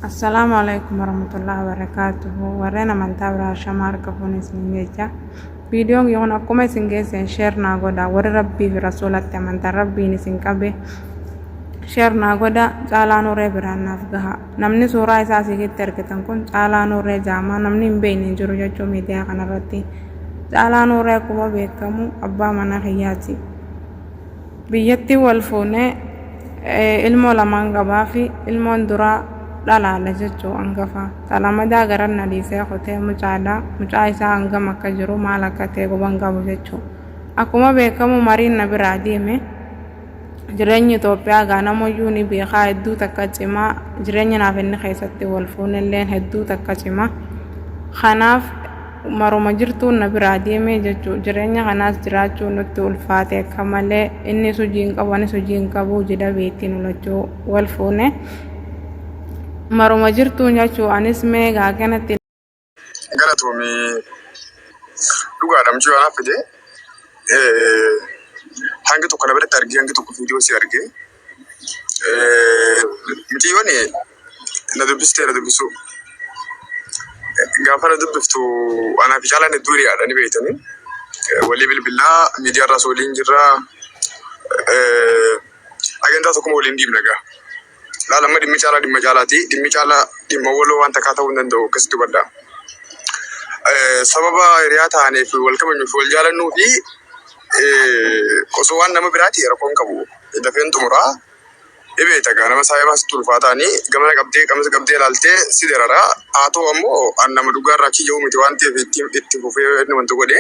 Assalaamu alaikum warahmatullahi wabarakatuhu warreen amantaa biraa shama harka fuunee isin jecha viidiyoon yoon akkuma isin geesseen sheer naa godha warri rabbii fi rasuulatti amantan rabbiin isin qabe sheer naa godha caalaa nuuree biraan naaf gaha namni suuraa isaa asiigitti argitan kun caalaa nuuree jaamaa namni hin beekne hin jiru jechuu miidiyaa kanarratti caalaa nuuree akkuma beekamu abbaa mana kiyyaati Biyyattiin wal fuune ilmoo lamaan qabaafi ilmoon duraa dhalaadha jechuu angafa xalamadaa garan na dhiisee kutee mucaadha mucaa isaa hangam akka jiru maal akka ta'e guban qabu jechuu akkuma beekamu mariin na biraa deeme jireenyi Itoophiyaa gaa namoyyuu ni beekaa hedduu takka cimaa jireenya naaf inni keessatti wal fuunelleen hedduu takka cimaa kanaaf Maruma jirtuun na biraa deeme jechuun jireenya kanaas jiraachuun nutti ulfaate akka malee innis hojii hin qabu anis hojii hin qabu jila beektii nu lachuu wal fuune maruma jirtuun jechuu anis mee gaaganatti galatoomi dhugaadha mucuu anaaf fide hangi tokko na biratti argee hangi tokko viidiyoo si argee Mitiiwwan na dubbistee na dubbisuu. Gaafa na dubbiftu anaa fi caalaan hedduu hiriyaadha ni beektanii. Walii bilbilaa miidiyaa irraas waliin jirra. Agandaa tokkuma waliin deemna egaa. Laal amma dhimmi caalaa dhimma caalaati. Dhimmi caalaa dhimma waloo waan takkaa ta'uu hin danda'u akkasitti hubadhaa. Sababa hiriyaa taaneef wal kabajnuu fi wal jaalannuu fi Osoo waan nama biraati rakkoon qabu dafeen xumura. Ni beekta gaa nama saahibaa sitti ulfaataani gamana qabdee qamisa qabdee ilaaltee si darara. Haa ta'u ammoo an nama dhugaa irraa achi jiru miti waan ta'eef itti itti fufee inni wanta godhe.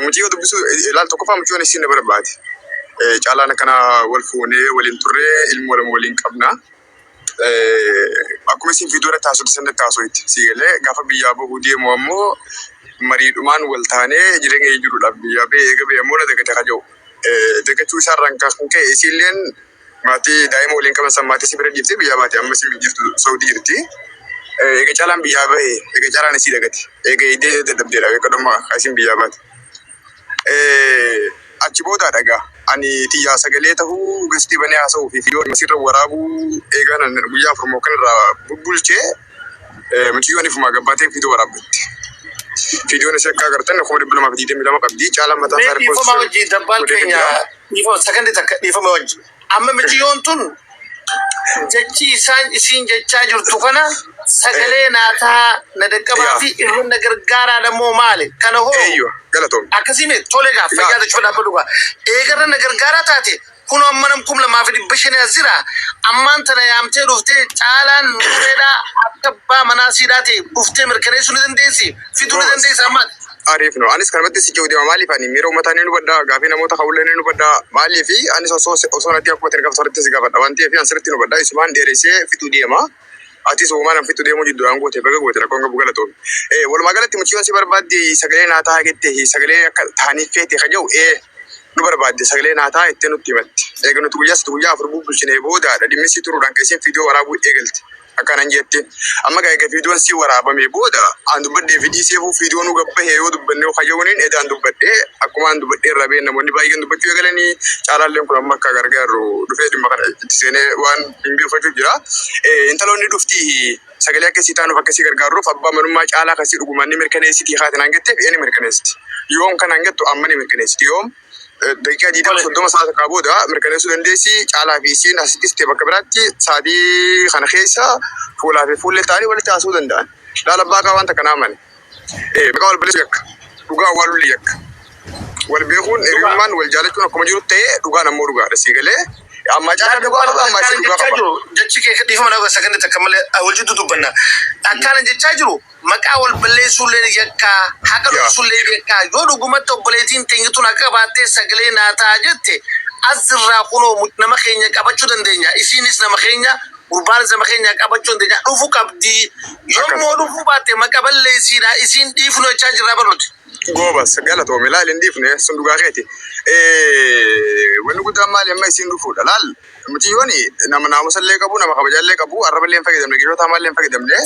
Mucayyoo dubbisuu ilaal tokkoffaa mucayyoon isii na barbaade. Caalaan akkana wal fuunee waliin turree ilmoo lama waliin qabna. akkuma isin viidiyoo irratti haasofte sanatti haasoyte sii galee gaafa biyyaa bahuu deemu ammoo mariidhumaan wal taanee jireenya kee jiruudhaaf biyyaa bahee eega bahee ammoo na dagate ka jedhu dagachuu isaa irraan kan ka'e isiilleen maatii daa'ima waliin qaban san maatii si bira dhiiftee biyyaa baate amma isin jirtu Saudi jirti. Eega caalaan biyyaa bahee eega caalaan isii dagate eega eegdee dadhabdeedha eega dhuma isin biyyaa baate. Achi booda dha egaa ani tiyyaa sagalee tahuu gastii banee haasa'uu fi viidiyoo asirra waraabuu eegaa nan guyyaa afur moo kan irraa bubbulchee mucayyoon ifumaa gabbaatee viidiyoo waraabbatte. Viidiyoon ishee akka agartan kuma dhibba lamaa fi digdamii lama qabdi. Caalaan mataa isaa Mee dhiifama wajjin dabbaan keenya dhiifama sakandii takka dhiifama wajjin. Amma miciyyoon tun jechii isaan isiin jechaa jirtu kana sagalee naa tahaa na daqqabaa fi irra na gargaaraa dha moo maali kana hoo Eeyyoo galatoomi. akkasii mee tole gaa fayyaa tachu fadhaa fadhu gaa eega irra na gargaaraa taate kuno amma nam kum lamaa fi dhibba shanii as jira ammaan tana yaamtee dhuftee caalaan nuureedhaa akka abbaa manaa siidhaa ta'e dhuftee mirkaneessuu ni dandeessi fiduu ni dandeessa ammaati. Ariif no anis kanumatti si jiru deema maaliif ani miira uummataa ni hubadha gaafii namoota ka'ullee ni hubadha maaliif anis osoo osoo natti akkuma itti gaafatu irratti si gaafadha waan ta'eef ani sirriitti ni hubadha isumaan dheeressee fixuu deema atis uumaan an fixuu deemuu jidduudhaan goote baga goote rakkoon qabu galatoon ee walumaa galatti mucayyoon si barbaadde sagalee naa ta'a jette sagalee akka taaniif feete ka jedhu ee nu barbaadde sagalee naa ta'a jettee nutti himatti eega nuti guyyaa sitti guyyaa afur bubbulchinee boodaadha dhimmisii turuudhaan keesseen fiidiyoo waraabuu eegalte akkanan jette amma gaa egaa viidiyoon sii waraabame booda aan dubbadhee fi dhiiseefuu viidiyoon uga bahee yoo dubbannee kayyawaniin edaan dubbadhee akkuma aan dubbadhee irraa ba'een namoonni baay'een dubbachuu eegalanii caalaalleen kun amma akka gargaaru dhufee dhimma kana itti seenee waan hin beekfachuu jira. Eh, Intaloonni dhuftii sagalee akka isii taanuuf akka isii gargaaruuf abbaa manummaa caalaa kan isii dhugumaan ni mirkaneessiti kaatin aan jetteef ee ni mirkaneessiti. Yoom kan aan jettu amma ni mirkaneessiti yoom daqiiqaa 20 30 sa'a takkaa booda mirkaneessuu dandeessi. Caalaa fi isiin asitti sitte bakka biraatti sa'aatii kana keessa fuulaa fi fuullee ta'anii walitti haasa'uu danda'an. Laala baaqaa wanta kana amane. Maqaa wal balleessuun yakka. Dhugaa awwaaluun yakka. Wal beekuun hiriyummaan wal jaalachuun akkuma jiru ta'ee dhugaan ammoo dhugaadha sii galee. Ammaa caalaa dhugaa qaba ammaa isii dhugaa qaba. Jechi kee dhiifama na saganni takka malee wal jidduu dubbanna. Akkaan jechaa jiru. maqaa wal balleessuulleen yakkaa, haqa dhoksuulleen yakkaa, yoo dhugumatti obboleetiin teenya tun haqa qabaattee sagalee naa ta'a jette as jirraa kunoo muc nama keenya qabachuu dandeenya isiinis nama keenya gurbaanis nama keenya qabachuu dandeenya dhufu qabdi yoo Akkas. immoo dhufuu baatte maqa balleessiidha isiin dhiifnu jechaa jirraa bar nuti. Goobas galatoomi laal hin dhiifne sun dhugaa keeti. Eh, Wanni guddaan maali amma isiin dhufuudha laal mucayyoon nama naamusa illee qabu nama kabajaa illee qabu arraba illee hin fayyadamne gidoo taamaa illee hin fayyadamne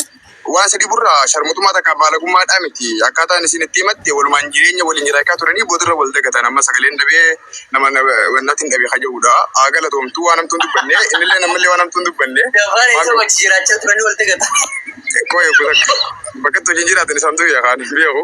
Waan isa dhiburra sharmuxummaa takka baalagummaadhaa miti. Akkaataan isin itti himatte walumaan jireenya waliin jiraakaa turanii boodarra wal dagatan amma sagaleen dhabee nama natin dhabe ka jedhudha. Haa galatoomtu waan hamtuu hin dubbanne innilleen ammallee waan hamtuu hin dubbanne. Gabbaan isa wajji jiraachaa turanii wal dagatan. Qoy obbo takka bakkatti wajjin jiraatan isaantu beekaan beeku.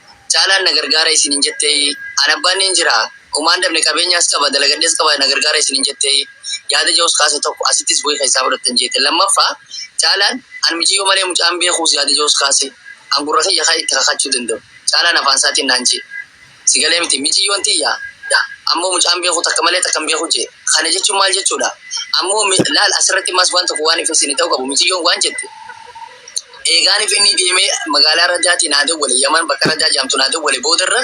Caalaan na gargaara isin hin jetteeyii? Ani abbaan niin jira, homaa hin dhabne, qabeenyaas qaba, dalagadhees qaba, na gargaara isin hin jetteeyii? Yaada jedhus kaase tokko asittis bu'ee keessaa fudhattan jeete. Lammaffaa, Caalaan, An miciyyoo malee mucaa hin beekuus yaada jedhus kaase. An gurra kiyya kan itti kakachuu danda'u. Caalaan afaan isaatiin naan je'e. Si galee miti, miciyyoon tiyya, dha, ammoo mucaa hin beeku, takka malee takka hin beeku je'e. Kana jechuun maal jechuudha? Ammoo, laal, asirratti ammaas waan tokko waan ifni siinii ta'uu qabu, miciyyoon waan jette, Eegaan ifini deeme magaala Rajaati naa dawwale Yaman bakka Rajaa jedhamtu naa dawwale booda irra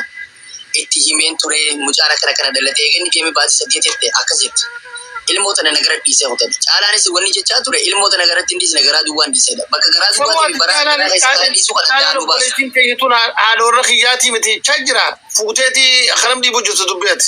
itti himeen ture mucaan akkana akkana dhalate eega inni deeme baatii saddeet irte akkas jette ilmoo tana nagara dhiise kutadhe Caalaanis wanni jechaa ture ilmoo tana garatti hin dhiisne garaa duwwaan dhiisedha bakka garaa duwwaa deeme baraa akkanaa keessa kaa dhiisu kana Caalaa nu baasa. Obboleettiin keenya tun haadha warra kiyyaatii miti jechaa jira fuuteeti akkanam dhiibuu jirtu dubbii ati.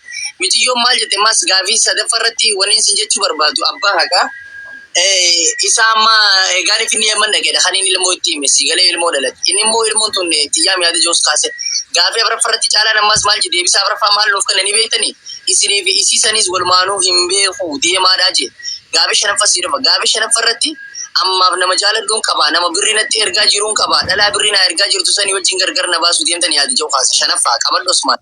Miciyyoon maal jette ammaas gaafii sadaffaa irratti waniin sin jechuu barbaadu abbaa haqaa isa amma egaan finni yamman dhaqedha kan inni ilmoo itti hime si galee ilmoo dhalate inni immoo ilmoon tun xiyyaa miyaada joos kaase gaafii afraffaa irratti caalaan ammaas maal jedhe deebisaa afraffaa maal nuuf kennanii beektani isinii fi isiisanis walumaanuu hin beeku deemaadhaa jee gaafii shanaffaa sii dhufa gaafii shanaffaa irratti ammaaf nama jaaladhuun qaba nama birrii natti ergaa jiruun qaba dhalaa birrii naa ergaa jirtu sanii wajjin gargar na baasuu deemtanii yaada jedhu kaase shanaffaa qabadhu osmaan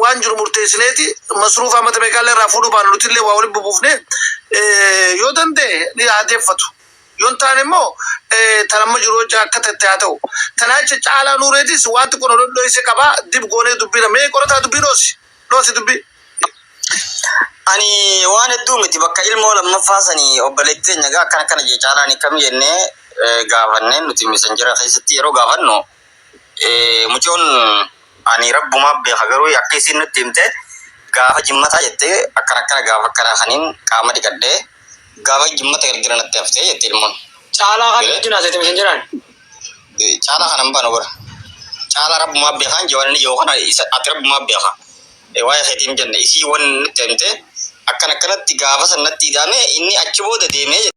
waan jiru murteessineeti masruufa amata meeqaallee irraa fuudhuu baana nutillee waa walitti bubuufne yoo danda'e ni haa deeffatu yoo hin taane immoo tan amma jiru hojja akka tatte haa ta'u tanaa jecha caalaa nuureetis waan xiqqoo nu dhodhoyse qaba dib goonee dubbiina mee qorataa dubbii dhoosi dhoosi dubbii Ani waan hedduu miti bakka ilmoo lammaffaa sani obboleetti teenya gaa akkana akkana jee caalaan hikkami jennee eh, gaafannee nuti misanjera keessatti yeroo gaafannu Mucoon ani rabbumaaf beeka garuu akka isiin nutti himte gaafa jimmataa jette akkana akkana gaafa akkanaa kaniin qaama dhiqadhe gaafa jimmata ergina natti hafte jette ilmoon. Caalaa kan wajjin haasete misan jedhaan. Caalaa kana hin baanu bara. Caalaa rabbumaaf beekaan jawaan inni jawu kana isa ati rabbumaaf beeka. Waa'ee keetiin hin jenne isii wan nutti himte akkana akkanatti gaafa san natti idaame inni achi booda deemee jette.